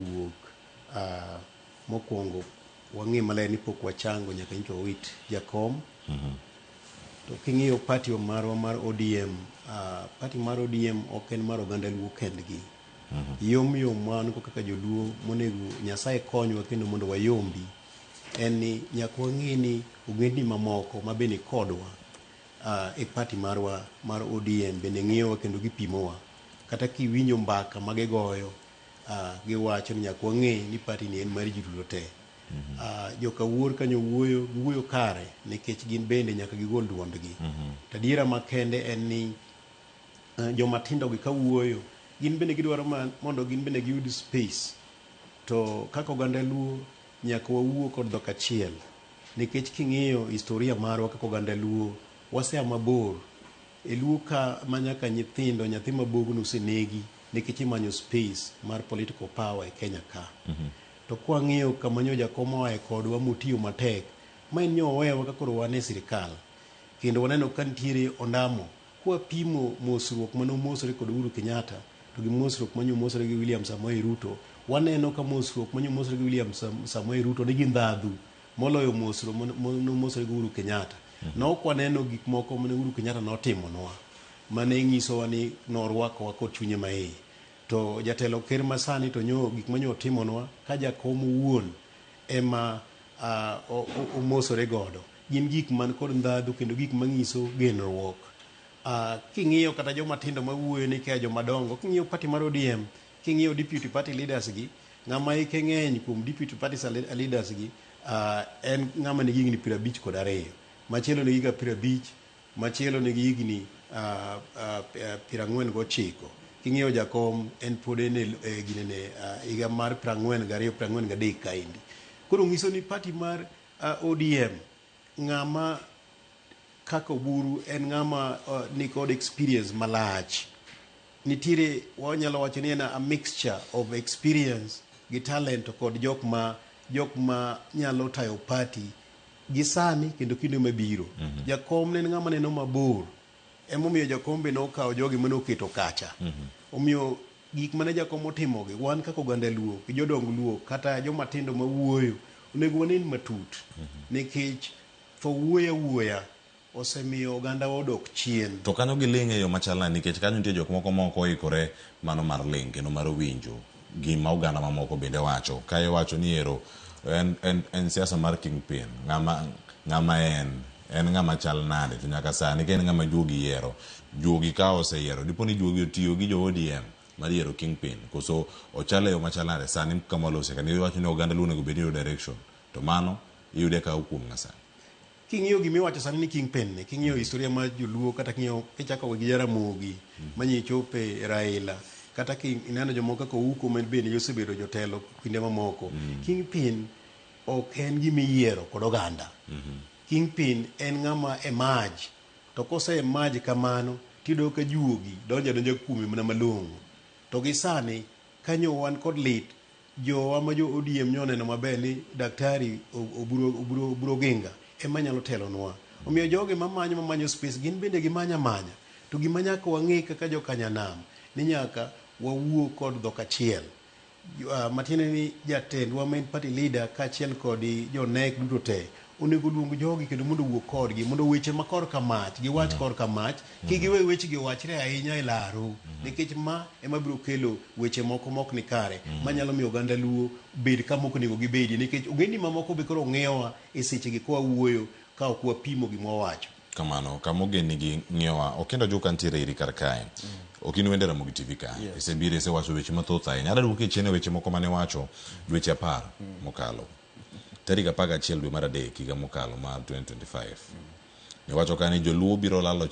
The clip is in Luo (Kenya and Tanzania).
wuok mokuongo wang'e maler ni pok wachango nyaka nyicha wawit jakom to king'iyo party marwa mar ODM uh, party mar ODM ok en mar oganda luo kendgi yom yom wan go kaka joluo monego nyasaye konywa kendo mondo wayombi en ni nyaka wang'e ni ogendni mamoko ma bende kodwa uh, e party marwa mar ODM bende ng'iyowa kendo gipimowa kata kiwinjo mbaka ma gigoyo Uh, giwacho ni nyaka wang'e ni party ni en mar ji duto te. Mm -hmm. uh, joka wuor kanyo wuoyo giwuoyo kare nikech gin bende nyaka gigol duondgi. Mm -hmm. Tadiera makende en ni uh, eh, joma tindo gi ka wuoyo gin bende gidwaro mondo gin bende giyud space. To kaka oganda luo nyaka wawuo kod dhok achiel nikech king'iyo historia marwa kaka oganda luo wasea mabor E luo ka ma nyaka nyithindo nyathi ma bogno osenegi nikech imanyo space mar political power e Kenya ka. To kwa ng'iyo kama nyo jakom oaye kodwa motiyo matek ma en nyo owewa ka koro wan e sirkal kendo waneno ka nitiere ondamo kwa pimo mosruok mane omosore kod Uhuru Kenyatta to gi mosruok ma nyo omosore gi William Samoei Ruto waneno ka mosruok ma nyo omosore gi William Samoei Ruto nigi ndhadhu moloyo mosro nomosore gi Uhuru Kenyatta. Mm -hmm. Nok waneno gik moko mane Uhuru Kenyatta notimonwa mane nyisowa ni norwakowa kod chunye maiye. To jatelo ker masani to nyo gik manyo otimonwa ka jakom wuon ema uh, omosore godo. Gin gik man kod ndhadhu kendo gik manyiso genruok. Uh, king'iyo kata joma tindo mawuoyo ni kaya joma dongo, king'iyo pati mar ODM King'iyo deputy party leaders gi, ng'ama hike ng'eny kuom deputy party leaders gi uh, en ng'ama nigi higni piero abich kod ariyo. Machielo nigi ga piero abich, machielo nigi higni uh, uh, piero ang'wen gochiko. King'iyo jakom en pod en e e ginene uh, higa mar piero ang'wen gariyo, piero ang'wen gadek kaendi. Koro ng'iso ni party mar uh, ODM ng'ama kaka Oburu en ng'ama uh, nikod experience malach Nitiere wanyalo wacho ni en a mixture of experience gi talent kod jok ma jok ma nyalo tayo party gi sani kendo kinde mabiro. Mm -hmm. Jakom ne en ng'ama neno mabor. Emomiyo jakom be nokawo jogi mane oketo kacha. Mm -hmm. Omiyo gik mane jakom otimogi wan kaka oganda Luo, jodong Luo kata joma tindo ma wuoyo onego wanen matut. Mm -hmm. Nikech tho wuoya wuoya. Osemiyo ogandawa odok chien. To kanyo giling' e yo machal nade? Nikech kanyo nitie jok moko ma ok oikore mano mar ling' kendo mar winjo gima oganda mamoko bende wacho. Kae iwacho ni ero en, en, en siasa mar kingpin. Ng'ama, ng'ama en? En ng'ama chal nade? To nyaka sani ka en ng'ama juogi yiero, juogi ka oseyiero, dipo ni juogi otiyo gi jo ODM mar yiero kingpin? Koso ochal e yo machal nade? Sani kama walose ka ni iwacho ni oganda Luo onego bed ni yudo direction. To mano iyude ka a kuom ng'a sani? King'iyo gima iwacho sani ni King Pen ni, king'iyo historia mar Joluo kata king'iyo kichako gi Jaramogi manyi ichope Raila kata kineno jomoko kaka Ouko ma bende osebedo jotelo kinde mamoko. King Pin ok en gima iyiero kod oganda. King Pin en ng'ama emerge to kose emerge kamano tiyudo ka juogi donjo adonja kuome mana malong'o. To gi sani kanyo wan kod lit Jowa ma jo ODM nyo oneno maber ni Daktari Oburu, Oburu, Oburu Oginga ema nyalo telonwa. Omiyo jogi mamanyo mamanyo space gin bende gimanyo amanya. To gima nyaka wang'e kaka jo Kanyanam ni nyaka wawuo kod dhok achiel. Jo- ah, Matiende ni jatendwa main party leader kaachiel kod jo NEC duto te Onego luong jogi kendo mondo owuo kodgi mondo weche ma korka mach giwach mm. korka mach mm. kik giwe wechegi owachre ahinya e laru mm. nikech ma ema biro kelo weche moko mok ni kare manyalo miyo oganda luo bed kama ok onego gibedi nikech ogendni mamoko be koro ng'iyowa e sechegi kwa wuoyo ka ok wapimo gima wawacho kamano kama ogendnigi ng'iyowa okenda joka ntiere iri kar kae ok in wende Ramogi TV ka yes. isebiro isewacho weche mathoth ahinya adadwoki chien e weche moko mane wacho dweche apar mokalo tarik apar gachiel dwe mar adek higa mokalo mar 2025 ne wacho ka ni joluo biro lalo chik